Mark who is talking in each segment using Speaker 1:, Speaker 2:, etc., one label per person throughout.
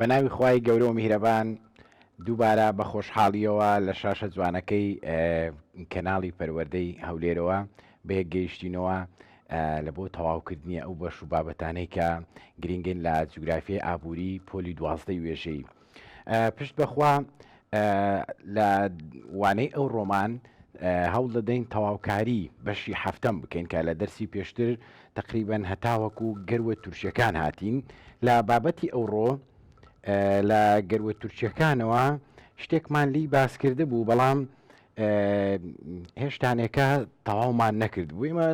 Speaker 1: بە ناوی خوای گەورە و میهرەبان دووبارە بە خۆشحاڵیەوە لە شاشە جوانەکەی کەناڵی پەروەردەی هەولێرەوە بەیەک گەیشتینەوە لە بۆ تەواوکردنی ئەو بەش و بابەتانەی کە گرنگن لە جوگرافی ئابووری پۆلی دوازدەی وێژەی پشت بەخوا لە وانەی ئەو ڕۆمان هەوڵ دەدەین تەواوکاری بەشی هەفتەم بکەین کە لە دەرسی پێشتر تقریبان هەتاوەکو گەروە تورکیەکان هاتین لە بابەتی ئەوڕۆ لە گەروە تورکیەکانەوە شتێکمان لی باسکرده بوو بەڵام هێشتانێکە تەواومان نەکرد بوویمە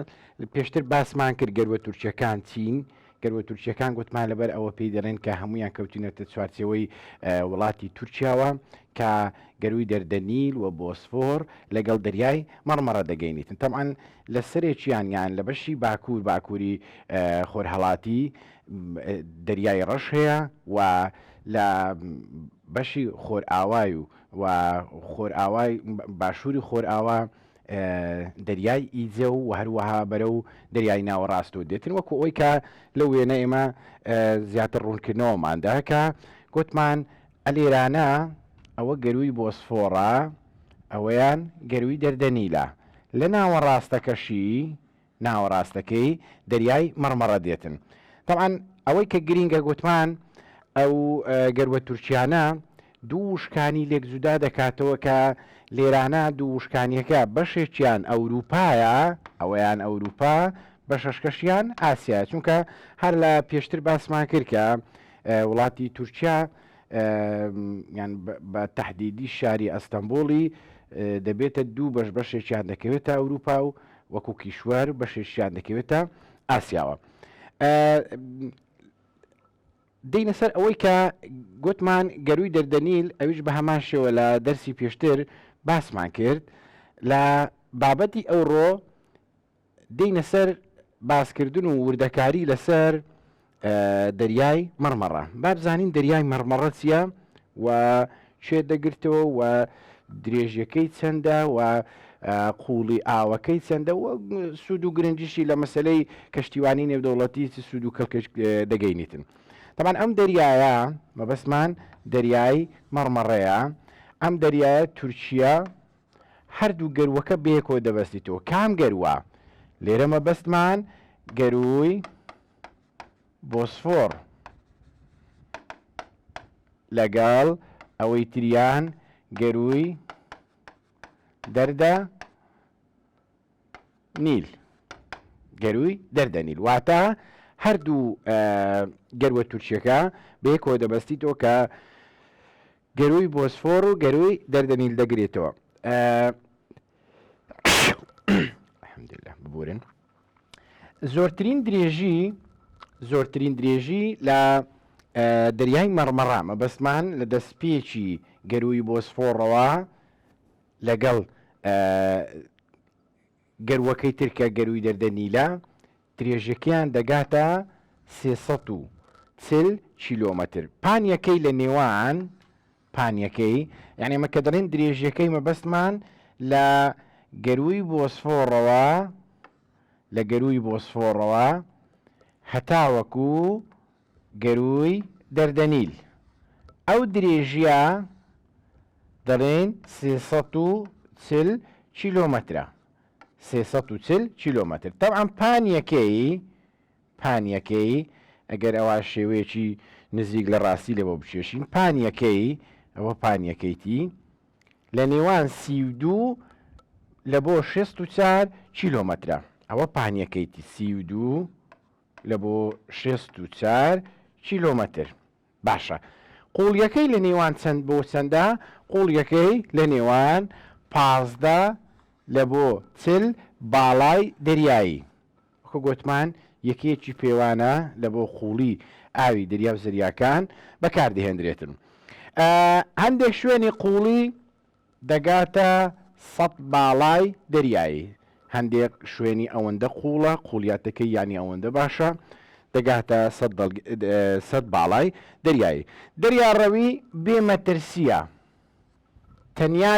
Speaker 1: پێشتر باسمان کرد گەروە تورکیەکان چین گەر وە تورکیەکان گوتمان لەبەر ئەوە پێی دەڵێن کە هەمویان کەوتینەتە چوارچێوەی وڵاتی تورکیاوە کە گەروی دەردەنیل و بۆسفۆر لەگەڵ دەریای مەڕمەڕە دەگەینیتن تەعاان لە سەرێکیان یان لە بەشی باکوور باکووری خۆرهڵاتی دەریای ڕەش هەیە و لە بەشی خۆرئاوای و و خۆرئاوای باشووری خۆرئاوا دەریای ئیجە و هەروەها بەرەو دەریای ناوەڕاست و دێتن وەکو ئەوی کە لە وێنە ئێمە زیاتر ڕوونکردنەوەماندا کە گوتمان ئەلێرانە ئەوە گەروی بۆسفۆڕە ئەوەیان گەروی دەردەنیلە لە ناوەڕاستەکەشی ناوەڕاستەکەی دەریای مەڕمەڕە دێتن تەبعەن ئەوەی کە گرینگە گۆتمان ئەو گەروە تورکیانە دوو وشکانی لێک جودا دەکاتەوە کە لێرانە دوو وشکانیەکە بەشێکیان ئەوروپایە ئەوەیان ئەوروپا بە شەشکەشیان ئاسیا چونکە هەر لە پێشتر باسمان کرد کە وڵاتی تورکیا یان بە تهدیدی شاری ئەستەمبولی دەبێتە دوو بەش بەشێکیان دەکەوێتە ئەوروپا و وەکو کیشوەر بەشێکیان دەکەوێتە ئاسیاوە دینە سەر ئەوەی کە گوتمان گەروی دەردەنیل ئەویش بە هەمان شێوە لە دەرسی پێشتر باسمان کرد لە بابەتی ئەوڕۆ دینە سەر باسکردن و وردەکاری لەسەر دەریای مەڕمەڕە با بزانین دەریای مەڕمەڕە چیە و شێ دەگرتەوە و درێژەکەی چەندە و قوڵی ئاوەکەی چەندە و سوود و گرنجیشی لە مەسلەی کەشتیوانی نێودەوڵەتی سوود و کەڵکەش دەگەینیتن. تەمان ئەم دەریایە مەبەستمان دەریای مەڕمەڕەیە ئەم دەریایە تورکیا هەردوو گەروەکە بێکۆ دەبەستیتەوە کام گەروە لێرە مەبەستمان گەروی بۆسفۆڕ لەگەڵ ئەوەی تریان گەرووی دەردە نیل گەرووی دەردە نیل واتە هەردوو گەروە تورکیەکە بەیەکۆ دەبەستی تۆ کە گەرووی بۆسفۆر و گەرووی دەردەنیل دەگرێتەوە ببورن زۆرترین درێژی زۆرترین درێژی لە دەریای مەڕمەڕە مەبەستمان لە دەستپێکی گەروی بۆسفۆڕەوە لەگەڵ گەروەکەی ترکە گەروی دەردەنیلە درێژەکەیان دەگاتە سێسە و چل کیلۆمەتر پانیەکەی لە نێوان پانیەکەی یانی ئەمە کە دەڵێن درێژیەکەی مەبەستمان لە گەرووی بۆسفۆڕەوە لە گەرووی بۆسفۆڕەوە هەتاوەکو گەرووی دەردەنیل ئەو درێژیە دەڵێن چل کیلۆمەترە چل کیلۆمەتر تەعام پانیەکەی پانیەکەی، ئەگەر ئەوا شێوەیەکی نزیک لە ڕاستی لێ بۆ بکێشین، پانیەکەی، ئەوە پانیەکەیتی، لە نێوان سی و دوو لە بۆ شێست و چار کیلۆمەترە، ئەوە پانیەکەیتی، سی و دوو لە بۆ شێست و چار کیلۆمەتر. باشە قوڵیەکەی لە نێوان چەند بۆ چەندە قوڵیەکەی لە نێوان پازدە لە بۆ چل باڵای دەریایی وەکو گۆتمان یەکەیەکی پێوانە لە بۆ قوڵی ئاوی دەریاو زەریاکان بەکاردەهێندرێتن ئە هەندێک شوێنی قوڵی دەگاتە سەد باڵای دەریایی، هەندێک شوێنی ئەوەندە قووڵە، قووڵیاتەکەی یانی ئەوەندە باشە، دەگاتە سەد باڵای دەریایی. دەریاڕەوی بێ مەترسییە، تەنیا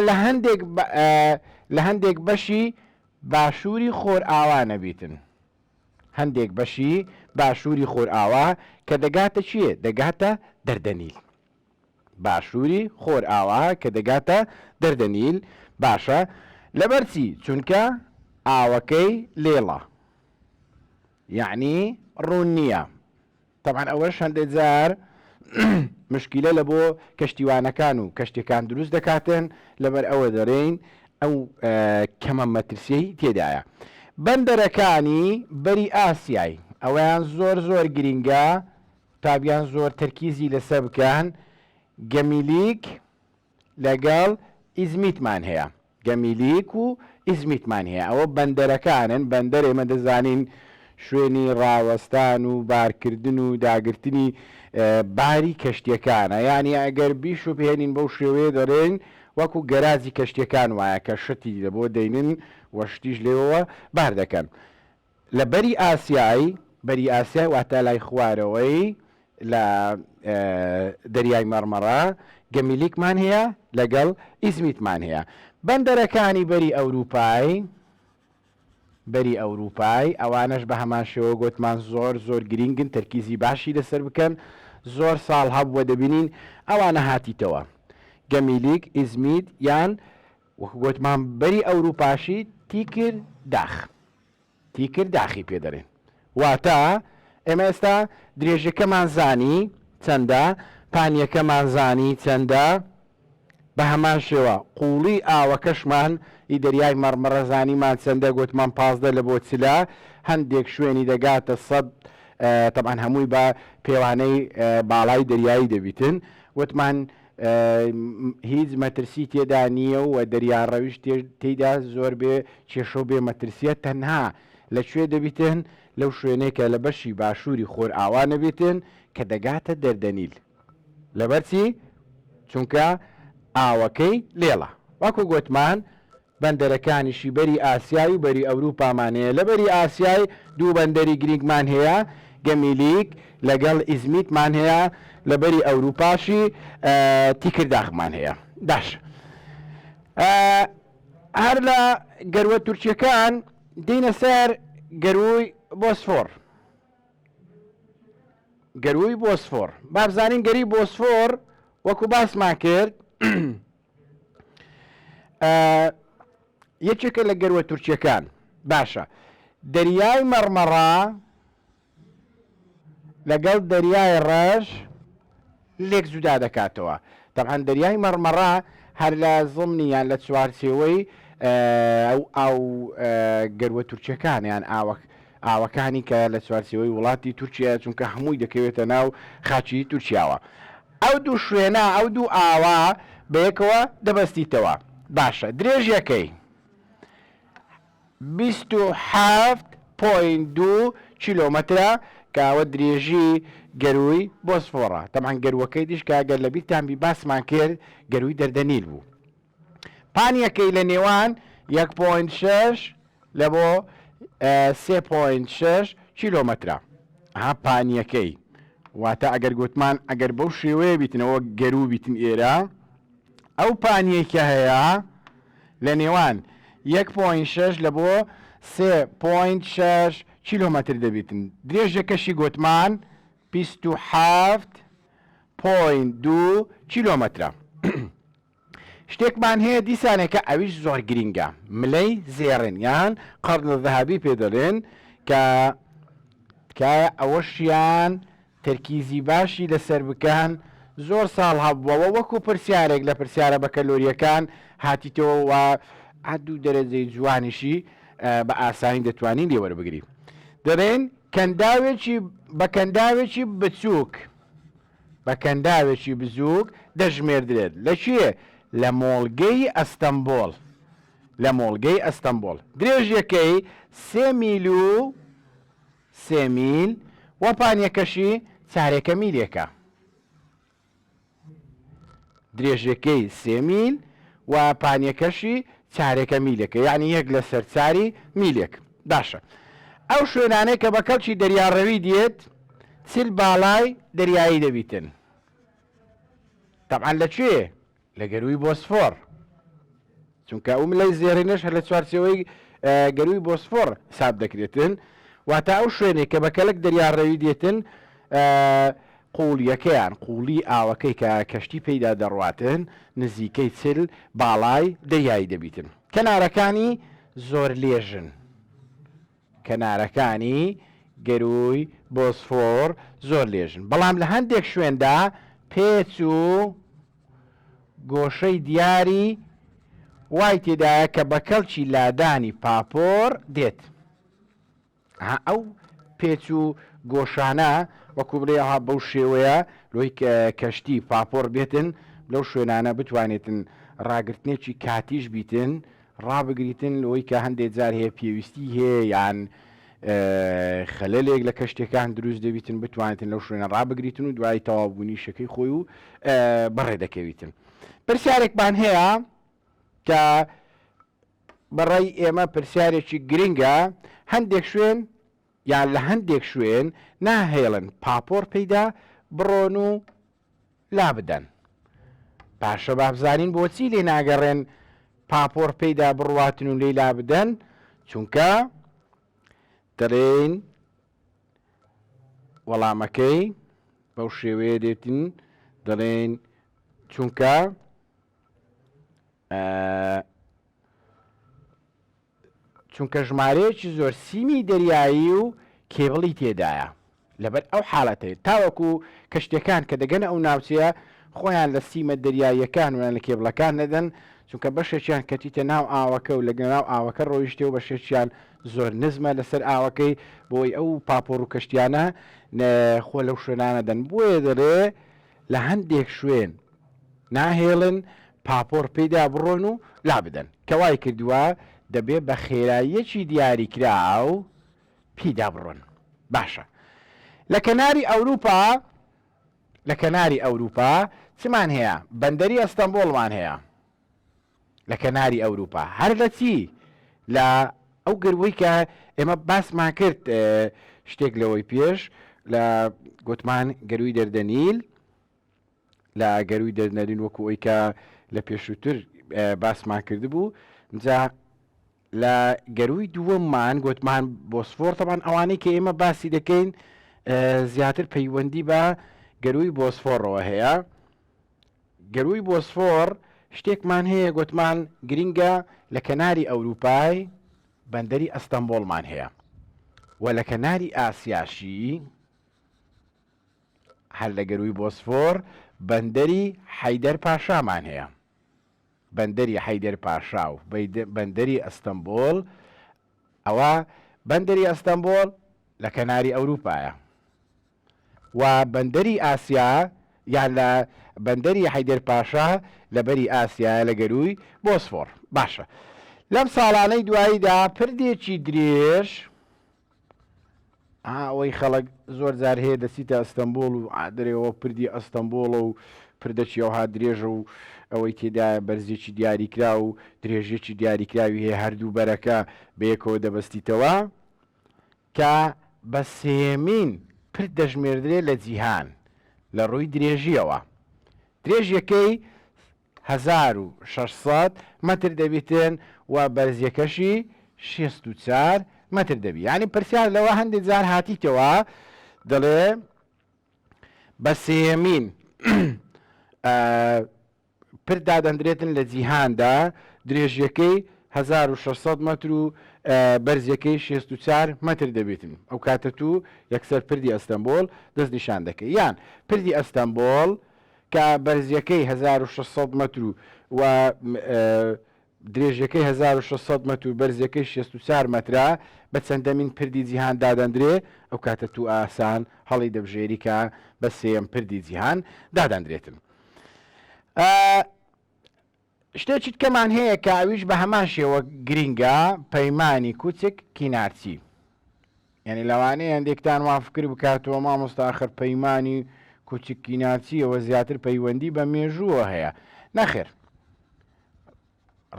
Speaker 1: لە هەندێک بەشی باشووری خۆرئاوا نەبیتن، هەندێک بەشی باشووری خۆرئاوا کە دەگاتە کوێ؟ دەگاتە دەردەنیل. باشووری خۆرئاوا کە دەگاتە دەردەنیل باشە لەبەر چی چونکە ئاوەکەی لێڵە یەعنی ڕوون نییە تەبعەن ئەوەش هەندێک جار مشکیلە لە بۆ کەشتیوانەکان و کەشتەکان دروست دەکاتن لەبەر ئەوە دەرێین ئەو کەمە مەترسیی تێدایە بەندەرەکانی بەری ئاسیای ئەویان زۆر زۆر گرینگە قوتابیان زۆر تەرکیزی لەسەر بکەن گەمیلیک لەگەڵ ئیزمیتمان هەیە گەمیلیک و ئیزمیتمان هەیە ئەوە بەندەرەکانن بەندەر ئێمە دەزانین شوێنی ڕاوەستان و بارکردن و داگرتنی باری کەشتیەکانە یانی ئەگەر بیشوبهێنین بەو شێوەیە دەڵێن وەکو گەراجی کەشتیەکان وایە کە شتی لەبۆ دەینن وە شتیش لێوەوە بار دەکەن لە بەری ئاسیای، بەری ئاسیای واتە لای خوارەوەی لە دەریای مەڕمەڕە، گەمیلیکمان هەیە لەگەڵ ئیزمیتمان هەیە. بەندەرەکانی بەری ئەورووپای، بەری ئەورووپای، ئەوانەش بە هەمان شێوە گۆتمان زۆر زۆر گرینگن، تەرکیزی باشی لەسەر بکەن، زۆر ساڵ هەبووە دەبینین ئەوانە هاتیتەوە، گەمیلیک، ئیزمیت یان وەک گۆتمان بەری ئەوروپاشی تیکر داخ تیکر داخی پێ دەرێن واتا ئێمە ئێستا درێژەکەمان زانی چەندە پانیەکەمان زانی چەندە بە هەمان شێوە قوڵی ئاوەکەشمان ئی دەریای مەڕمەڕە زانیمان چەندە گۆتمان پازدە لە بۆ چلا هەندێک شوێنی دەگاتە سەد تەبان هەمووی بە پێوانەی باڵای دەریایی دەبیتن وتمان هیچ مەترسی تێدا نییە و دەریاڕەویش تێیدا زۆر بێ کێشە و بێ مەترسییە، تەنها لە کوێ دەبیتێن؟ لەو شوێنەی کە لە بەشی باشووری خۆرئاوا نەبێتێن کە دەگاتە دەردەنیل. لەبەرچی؟ چونکە ئاوەکەی لێڵە. وەکو گۆتمان، بەندەرەکانیشی بەری ئاسیای و بەری ئەوروپامان هەیە، لە بەری ئاسیای دوو بەندەری گرینگمان هەیە، گەمیلیک لەگەڵ ئیزمیتمان هەیە، لە بەری ئەوروپاشی تیکرداخمان هەیە. باشە هەر لە گەروە تورکیەکان دێینە سەر گەرووی بۆسفۆڕ، گەرووی بۆسفۆڕ بابزانین گەری بۆسفۆڕ وەکو باسمان کرد، یەکێکە لە گەروە تورکیەکان باشە دەریای مەڕمەڕا لەگەڵ دەریای ڕەش لێک جودا دەکاتەوە تەعاان دەریای مەڕمەڕا هەر لە زڵمنی یان لە چوارچێوەی ئەو ئاو گەروە تورکیەکان یان ئاوەک ئاوەکانی کە لە چوارچەوەی وڵاتی تورکیا چونکە هەمووی دەکەوێتە ناو خاچی تورکیاوە ئەو دوو شوێنە، ئەو دوو ئاوە بەیەکەوە دەبەستیتەوە. باشە درێژیەکەی بیست و حەفت پۆینت دوو کیلۆمەترە کە ئەوە درێژی گەرووی بۆسفۆڕە. تەبعەن گەرووەکەی دیش کە گەر لەبیرتان بی باسمان کرد گەرووی دەردەنیل بوو. پانیەکەی لە نێوان یەک پۆینت شەش لە بۆ سێ پۆینت شەش کیلۆمەترە ها پانیەکەی واتە ئەگەر گوتمان ئەگەر بەو شێوەیە بیتنەوە گەرو بیتن ئێرە ئەو پانیەکە هەیە لە نێوان یەک پۆین شەش لە بۆ سێ پۆینت شەش کیلۆمەتر دەبیتن درێژەکەشی گوتمان بیست و حەفت پۆین دوو کیلۆمەترە شتێکمان هەیە دیسانێ کە ئەویش زۆر گرینگە ملەی زێڕین یان قەرن الذهبی پێ دەلێن کە تکایە ئەوەشیان تەرکیزی باشی لەسەر بکەن زۆر ساڵ هەبووەوە وەکو پرسیارێک لە پرسیارە بەکەلۆریەکان هاتیتەوە و عدو دەرەجەی جوانیشی بە ئاسانی دەتوانین لێوەربگری دەرێن کەنداوێکی بە کەنداوێکی بچووک بە کەنداوێکی بزووک دەژمێردرێت لە کوێ؟ لە مۆڵگەی ئەستەمبۆڵ لە مۆڵگەی ئەستەمبۆڵ درێژیەکەی سێ میل و سێ میل و پانیەکەشی چارێکە میلێکە. درێژەکەی سێ میل و پانیەکەشی چارەکە میلەکە یانی یەک لەسەر چاری میلێک باشە ئەو شوێنانەی کە بە کەڵکی دەریا ڕەوی دێت چل باڵای دەریایی دەبیتن تەبعەن لەکوێ لە گەرووی بۆسفۆر چونکە ئەو ملای زێڕینەش هەر لە چوارچێوەی گەرووی بۆسفۆڕ حساب دەکرێتن، واتە ئەو شوێنەی کە بە کەلک دەریا ڕێوی دێتن، قووڵییەکەیان، قووڵیی ئاوەکەی کە کەشتی پێیدا دەڕواتن، نزیکەی چل باڵای دەریایی دەبیتن. کەنارەکانی زۆر لێژن. کەنارەکانی گەرووی بۆسفۆر زۆر لێژن، بەڵام لە هەندێک شوێندا پێچ و گۆشەی دیاری وای تێدایە کە بە کەڵکی لادانی پاپۆڕ دێت. ها ئەو پێچ و گۆشانە وەکو بڵێ ها بەو شێوەیە لۆی کەشتی پاپۆڕ بێتن لەو شوێنانە بتوانێتن ڕاگرتنێکی کاتیش بیتن ڕابگریتن لەوەی کە هەندێک جار هەیە پێویستی هەیە یان خەلەلێک لە کەشتەکان دروست دەبیتن بتوانێتن لەو شوێنە ڕابگریتن و دوای تەوابوونی شەکەی خۆی و بەڕێ دەکەویتن پرسیارێکمان هەیە کە بەڕای ئێمە پرسیارێکی گرنگە هەندێک شوێن یان لە هەندێک شوێن ناهێڵن پاپۆڕ پیدا بڕۆن و لابدەن. باشە بابزانین بۆچی لێ ناگەڕێن پاپۆڕ پیدا بڕواتن و لێی لابدەن چونکە دەڵێن وەڵامەکەی بەو شێوەیە دێتن دەڵێن چونکە چونکە ژمارەیەکی زۆر سیمی دەریایی و کێبڵی تێدایە لەبەر ئەو حالەتەی تاوەکو کەشتیەکان کە دەگەنە ئەو ناوچەیە خۆیان لە سیمە دەریاییەکان و یان لە کێبڵەکان نەدەن چونکە بەشێکیان کەتیتە ناو ئاوەکە و لەگەناو ئاوەکە ڕۆیشتێ و بەشێکیان زۆر نزمە لەسەر ئاوەکەی بۆی ئەو پاپۆڕ و کەشتیانە خۆ لەو شوێنانە دەن بۆیە دەرێ لە هەندێک شوێن ناهێڵن پاپۆڕ پێیدا بڕۆن و لابدەن، کە وای کردووە دەبێ بە خێراییەکی دیاریکراو پیدا بڕۆن. باشە لە کەناری ئەوروپا لە کەناری ئەوروپا چمان هەیە؟ بەندەری ئەستەنبوڵمان هەیە لە کەناری ئەوروپا. هەر لە چی؟ لە ئەو گەروەی کە ئێمە باسمان کرد شتێک لەوەی پێش لە گوتمان گەروی دەردەنیل، لە گەرووی دەرنەرین وەکو ئەوی کە لە پێشووتر باسمان کردبوو جا لە گەرووی دووەممان گوتمان بۆسفۆر تەبان ئەوانەی کە ئێمە باسی دەکەین زیاتر پەیوەندی بە گەرووی بۆسفۆڕەوە هەیە گەرووی بۆسفۆر شتێکمان هەیە گوتمان گرینگە لە کەناری ئەوروپای بەندەری ئەستەمبۆڵمان هەیە و لە کەناری ئاسیاشی هەر لە گەرووی بۆسفۆر بەندەری حەیدەر پاشامان هەیە. بەندەری حەیدەر پاشا و بەندەری ئەستەنبۆڵ، ئەوە بەندەری ئەستەنبۆڵ لە کەناری ئەورووپایە و بەندەری ئاسیا یان لە بەندەری حەیدەر پاشا لە بەری ئاسیایە لە گەرووی بۆسفۆر. باشە لەم ساڵانەی دواییدا پردێکی درێژ، ئەوەی خەڵک زۆر جار هەیە دەچیتە ئەستەمبوڵ و ئادرێەوە پردی ئەستەمبوڵە و پردەکی ئەوها درێژە و ئەوەی تێدایە بەرزێکی دیاریکرا و درێژێکی دیاریکراوی هەیە هەردوو بەرەکە بەیەکەوە دەبەستیتەوە کە بە سێیەمین پرد دەژمێردرێ لە جیهان لە ڕووی درێژیەوە درێژیەکەی هەزار و شەش سەد مەتر دەبیتن و بەرزیەکەشی شێست و چار مەتر دەبی یانی پرسیار لەوە هەندێ جار هاتیتەوە دەڵێ بە سێیەمین پر دادەندرێتن لە جیهاندا درێژیەکەی هەزار و شەش سەد مەتر و بەرزیەکەی شێست و چار مەتر دەبیتن ئەو کاتە تو یەکسەر پردی ئەستەمبۆڵ دەست نیشان دەکەی یان پردی ئەستەمبۆڵ کە بەرزییەکەی هەزار و شەش سەد مەتر و و درێژییەکەی هەزار و شەش سەد مەتر و بەرزییەکەی شێست و چار مەترە، بە چەندەمین پردی جیهان دادەندرێ، ئەو کاتە تووئاسان هەڵی دەبژێری کە بە سێیەم پردی جیهان دادەندرێتن. ئا. شتێکی تکەمان هەیە کە ئەویش بە هەمان شێوە گرینگە پەیمانی کوچک کینارچی یعنی لەوانەیە هەندێکتان وا فکر بکاتەوە مامۆستا ئەخر پەیمانی کوچک کینارچیەوە زیاتر پەیوەندی بە مێژووە هەیە نەخێر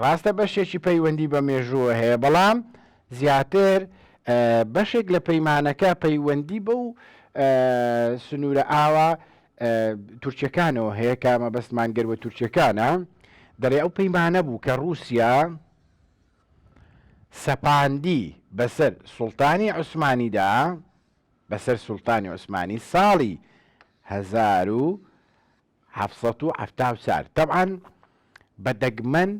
Speaker 1: ڕاستە بەشێکی پەیوەندی بە مێژووە هەیە بەڵام زیاتر بەشێک لە پەیمانەکە پەیوەندی بە و سنوورە ئاوا تورکیەکانەوە هەیە کە مەبەستمان گەر بە تورکیەکانە دەڵێ ئەو پەیمانە بوو کە ڕووسیا سەپاندی بەسەر سوڵتانی عوسمانیدا بەسەر سوڵتانی عوسمانی ساڵی 1970 تەعاان بە دەگمەن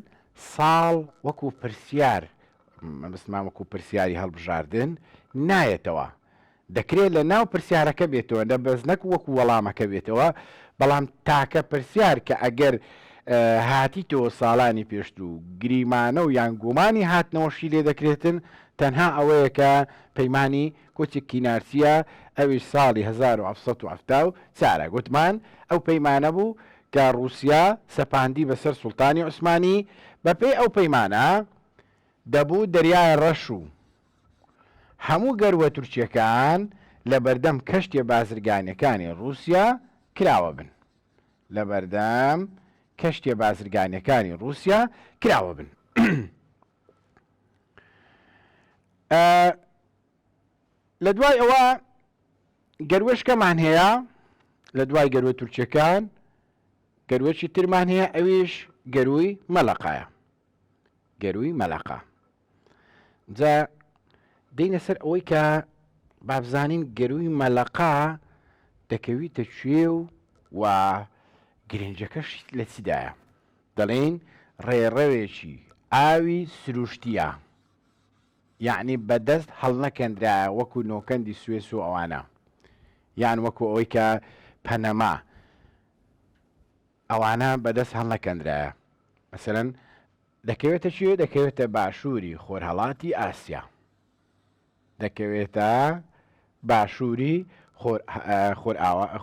Speaker 1: ساڵ وەکو پرسیار مەبستمان وەکو پرسیاری هەڵبژاردن نایەتەوە دەکرێت لە ناو پرسیارەکە بێتەوە نە بەس نەک وەکو وەڵامەکە بێتەوە بەڵام تاکە پرسیار کە ئەگەر هاتیتەوە ساڵانی پێشتوو گریمانە و یان گومانی هاتنەوەشی لێ دەکرێتن تەنها ئەوەیە کە پەیمانی کۆچی کینارسیە ئەوی ساڵی 1970 چارە گوتمان ئەو پەیمانە بوو کە ڕوسیا سەپاندی بەسەر سوڵتانی عوسمانی بەپێی ئەو پەیمانە دەبوو دەریای ڕەش و هەموو گەروە تورکیەکان لە بەردەم کەشتیە بازرگانیەکانی ڕوسیا کراوە بن لە بەردەم کەشتیە بازرگانیەکانی ڕوسیا کراوە بن لە دوای ئەوە گەروەشکەمان هەیە لە دوای گەروە تورکیەکان گەروەکی ترمان هەیە ئەویش گەروی مەلەقایە گەرووی مەلەقە. جا دێینە سەر ئەوەی کە بابزانین گەرووی مەلەقە دەکەویتە کوێ و و گرنجەکەش لە چیدایە دەڵێین ڕێڕەوێکی ئاوی سروشتیە یعنی بەدەست هەڵنەکەندرایە وەکو نۆکەندی سوێس و ئەوانە یان وەکو ئەوەی کە پەنەما ئەوانە بەدەست هەڵنەکەندرایە مەسەلەن دەکەوێتە کوێ دەکەوێتە باشووری خۆرهەڵاتی ئاسیا دەکەوێتە باشووری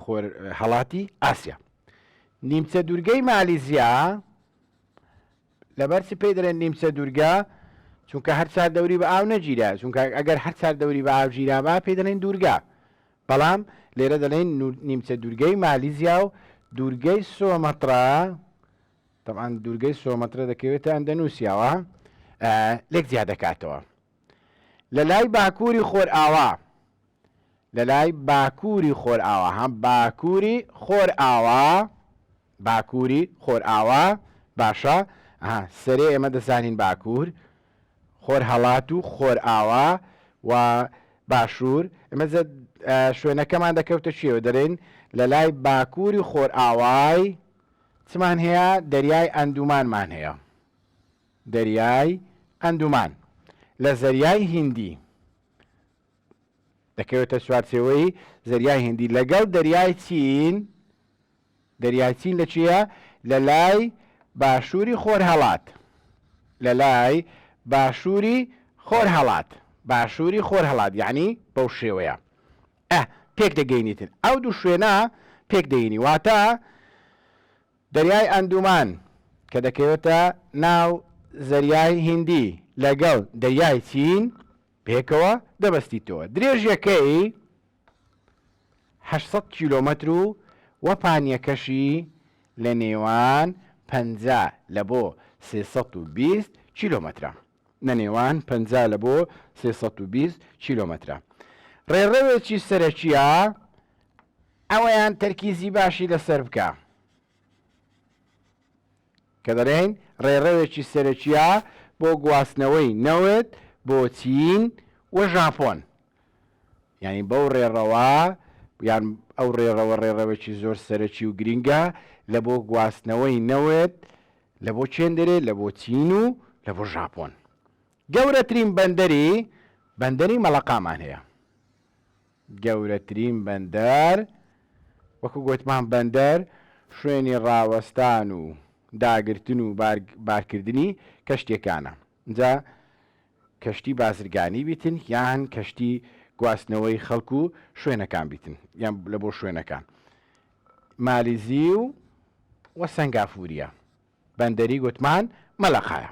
Speaker 1: خۆرهەڵاتی ئاسیا نیمچە دوورگەی مالیزیا لەبەرچی پێی دەرێن نیمچە دوورگە چونکە هەر چار دەوری بە ئاو نەگیرا چونکە ئەگەر هەر چار دەوری بە ئاو گیرابا پێی دەڵێن دوورگە بەڵام لێرە دەلێن نیمچە دوورگەی مالیزیا و دوورگەی سۆمەترا تەبان دوورگەی سۆمەترە دەکەوێتە ئەندەنووسیاوە لێک زیاد دەکاتەوە لە لای باکووری خۆرئاوا لە لای باکووری خۆرئاوا هەم باکووری خۆرئاوا باکوری خۆرئاوا باشە ها سەرێ ئێمە دەزانین باکور خۆر هەڵات و خۆرئاوا و باشور ئمە شوێنەکەمان دەکەوتە چێوە دەرێن لە لای باکوری خۆرئاوای چمان هەیە دەریای ئەندومانمان هەیە دەریای ئەندومان لە زەریای هندی دەکەوێتە چوارچێوەی زەریای هندی لەگەڵ دەریای چین دەریای چین لە کوێیە؟ لە لای باشووری خۆرهەڵات. لە لای باشووری خۆرهەڵات. باشووری خۆرهەڵات یانی بەو شێوەیە. ئە، پێک دەگەینیتن. ئەو دوو شوێنە پێک دەینی. واتە دەریای ئەندومان کە دەکەوێتە ناو زەریای هیندی لەگەڵ دەریای چین پێکەوە دەبەستیتەوە. درێژیەکەی هەشت سەد کیلۆمەتر و وەپانیەکەشی لە نێوان پەنجا لە بۆ سێ سەد و بیست کیلۆمەترە. نە نێوان پەنجا لە بۆ سێ سەد و بیست کیلۆمەترە. ڕێڕەوێکی سەرەکیە ئەوەیان تەرکیزی باشی لەسەر بکە. کە دەڵێین ڕێڕەوێکی سەرەکییە بۆ گواستنەوەی نەوت بۆ چین و ژاپۆن، یانی بەو ڕێڕەوە یان ئەو ڕێڕەوە ڕێڕەوێکی زۆر سەرەکی و گرینگە لە بۆ گواستنەوەی نەوت لە بۆ چێن دەرێت لە بۆ چین و لە بۆ ژاپۆن. گەورەترین بەندەری بەندەری مەڵەقامان هەیە. گەورەترین بەندەر، وەکو گۆتمان بەندەر شوێنی ڕاوەستان و داگرتن و بارکردنی کەشتیەکانە جا کەشتی بازرگانی بیتن یان کەشتی گواستنەوەی خەڵک و شوێنەکان بیتن یان لە بۆ شوێنەکان مالیزی و وە سەنگافوریە. بەندەری گوتمان مەلەقایە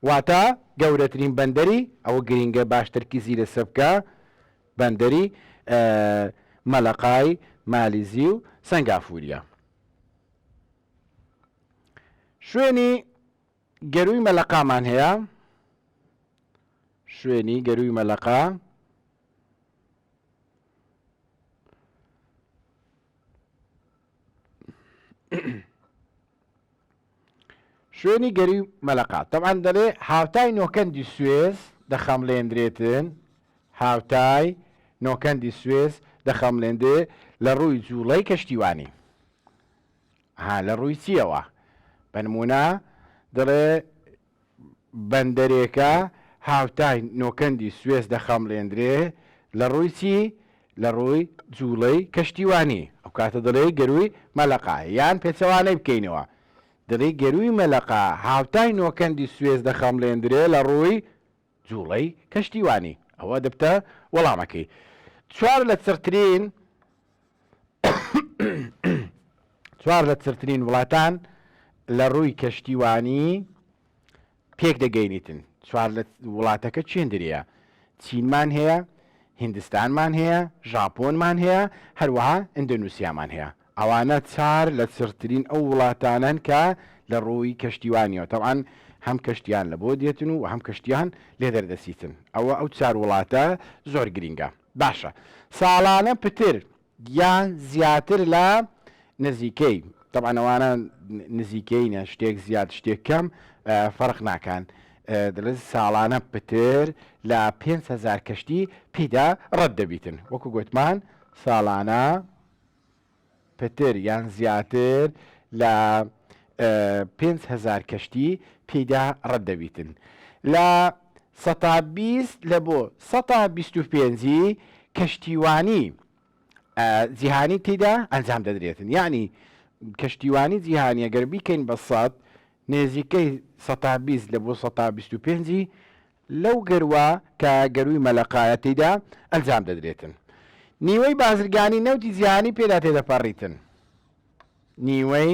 Speaker 1: واتە گەورەترین بەندەری ئەوە گرینگە باش تەرکیزی لەسەر بکە بەندەری مەلەقای مالیزی و سەنگافوریە شوێنی گەروی مەلەقامان هەیە شوێنی گەروی مەلەقا شوێنی گەروی مەلەقە تەبعەن دەلێ هاوتای نۆکەندی سوێز دەخەملێندرێتن هاوتای نۆکەندی سوێز دەخەملێندێ لە ڕووی جووڵەی کەشتیوانی ها لە ڕووی چیەوە بەنمونە دەڵێ بەندەرێکە هاوتای نۆکەندی سوێس دەخەمڵێندرێ، لەڕووی چی؟ لەڕووی جووڵەی کەشتیوانی، ئەوکاتە دەڵێی گەرووی مەلەقا، یان پێچەوانەی بکەینەوە دەڵێی گەرووی مەلەقا هاوتای نۆکەندی سوێس دەخەمڵێندرێ لەڕووی جوڵەی کەشتیوانی، ئەوە دبتە وەڵامەکەی. چوار لە چڕترین چوار لە چڕترین وڵاتان لە ڕووی کەشتیوانی پێک دەگەینیتن. چوار لە وڵاتەکە چێندریە. چینمان هەیە، هیندستانمان هەیە، ژاپۆنمان هەیە، هەروەها ئیندۆنوسیامان هەیە. ئەوانە چار لە چڕترین ئەو وڵاتانەن کە لە ڕووی کەشتیوانیەوە تەبعەن هەم کەشتیان لە بۆ دێتن و هەم کەشتیان لێ دەردەچیتن ئەوە ئەو چار وڵاتە زۆر گرینگە باشە ساڵانە پتر یان زیاتر لە نزیکەی تەبعەن ئەوانە نزیکەینە شتێک زیاد شتێک کەم فەرق ناکان دەڵێت ساڵانە پتر لە 5 هزار کەشتی پیدا ڕەت دەبیتن وەکو گوتمان ساڵانە پتر یان زیاتر لە پێنج هەزار کەشتی تیدا رەت دەبیتن لە سەتا بیست لە بۆ سەتا بیست و پێنجی کەشتیوانی جیهانی تیدا ئەنجام دەدرێتن یانی کەشتیوانی جیهانی گەر بیکەین بە سەد نێزیکەی سەتا بیست لە بۆ سەتا بیست و پێنجی لەو گەروە کە گەرووی مەلەقایە تیدا ئەنجام دەدرێتن نیوەی بازرگانی نەوتی جیهانی پێدا تێدەپەڕیتن نیوەی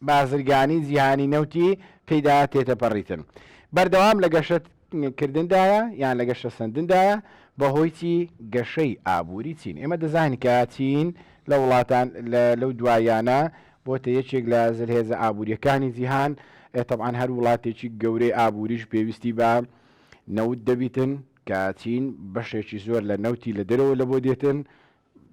Speaker 1: بازرگانی جیهانی نەوتی تێدا تێتەپەڕیتن بەردەوام لە گەشت کردندایە یان لە گەشتە سندندایە بەهۆیی گەشەی ئابووری چین ئێمە دەزانین کە چین لە وڵاتان لەو دوایانە بۆتە یەکێک لە زلهێزە ئابوورییەکانی جیهان، تەبعەن هەر وڵاتێکی گەورەی ئابووریش پێویستی بە نەوت دەبیتن، کە چین بەشێکی زۆر لە نەوتی لە دەرەوە لەبۆ دێتن،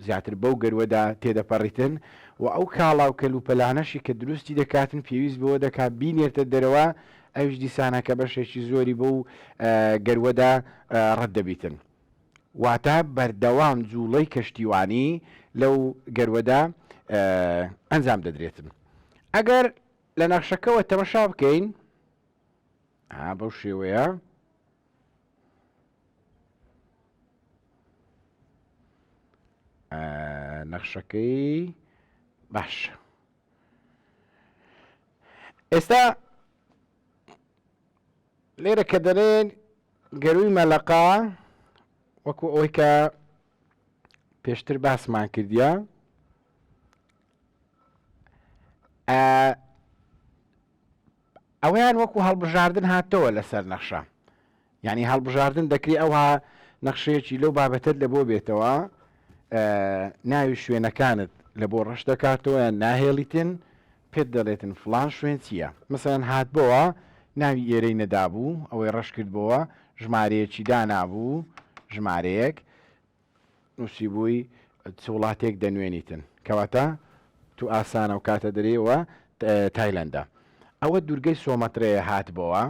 Speaker 1: زیاتر بەو گەروەدا تێدەپەڕیتن و ئەو کاڵا و کەلوپەلانەشی کە دروستی دەکاتن پێویست بەوە دەکا بینێرتە دەرەوە، ئەویش دیسانە کە بەشێکی زۆری بەو گەروەدا ڕەت دەبیتن. واتە بەردەوام جووڵەی کەشتیوانی لەو گەروەدا ئەنجام دەدرێتن ئەگەر لە نەخشەکەەوە تەمەشا بکەین بەو شێوەیە نەخشەکەی باش ئێستا لێرە کە دەلێن گەرووی مەلەقە وەکو ئەوەی کە پێشتر باسمان کردە ئەویان وەکو هەڵبژاردن هاتەوە لەسەر نەخشە یعنی هەڵبژاردن دەکری ئەوها نەخشەیەکی لەو بابەتت لە بۆ بێتەوە ناوی شوێنەکانت لە بۆ ڕەش دەکاتەوە ناهێڵیتن پێت دەلێتن فلان شوێن چیە مەسەلەن هاتبۆوە ناوی ئێرەی نەدابوو ئەوەی رەش کردبۆوە ژمارەیەکی دانابوو ژمارەیەک نوسیبووی چ وڵاتێک دەنوێنیتن کەواتە تو ئاسانە و کاتە دەرێەوە تایلەندە ئەوە دوورگەی سۆمەترەیە هاتبۆوە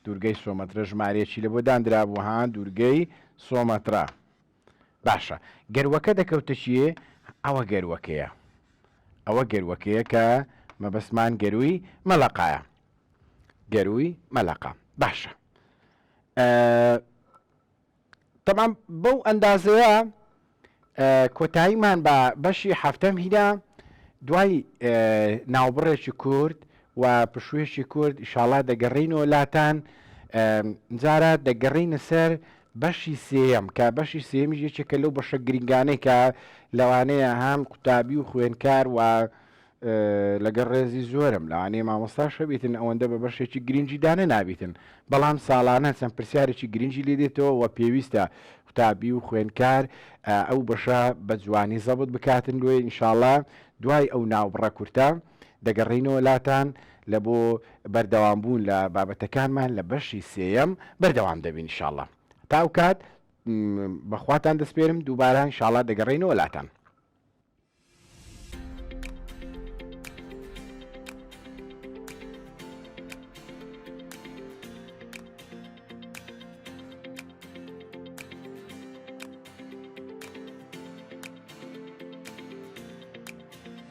Speaker 1: دوورگەی سۆمەترە ژمارەیەکی لە بۆ دانرابوو ها دوورگەی سۆمەترا باشە گەروەکە دەکەوتە چیێ؟ ئەوە گەروەکەیە ئەوە گەروەکەیە کە مەبەستمان گەروی مەلەقایە گەروی مەلەقا باشە تەمام بەو ئەندازەیە کۆتاییمان بە بەشی هەفتەم هیدا دوای ناوبڕێکی کورد و پشوێکی کورد شاڵا دەگەڕینەوە لاتان جارە دەگەڕینە سەر بەشی سێیەم، کە بەشی سێیەمیش یەکێکە لەو بەشە گرنگانەی کە لەوانەیە هەم قوتابی و خوێندکار و لەگەڵ ڕێزی زۆرم لەوانەیە مامۆستا شەبیتن ئەوەندە بە بەشێکی گرنگی دانە نابیتن بەڵام ساڵانە چەند پرسیارێکی گرنگی لێ دێتەوە و پێویستە قوتابی و خوێندکار ئەو بەشە بە جوانی زەبت بکاتن لێ ئینشاالله دوای ئەو ناوبڕە کورتە دەگەڕێینەوە لاتان لە بۆ بەردەوام بوون لە بابەتەکانمان لە بەشی سێیەم بەردەوام دەبین ان شاءاللە تا ئەو کات بەخواتان دەسپێرم دووبارە ان شاءاللە دەگەڕێینەوە لاتان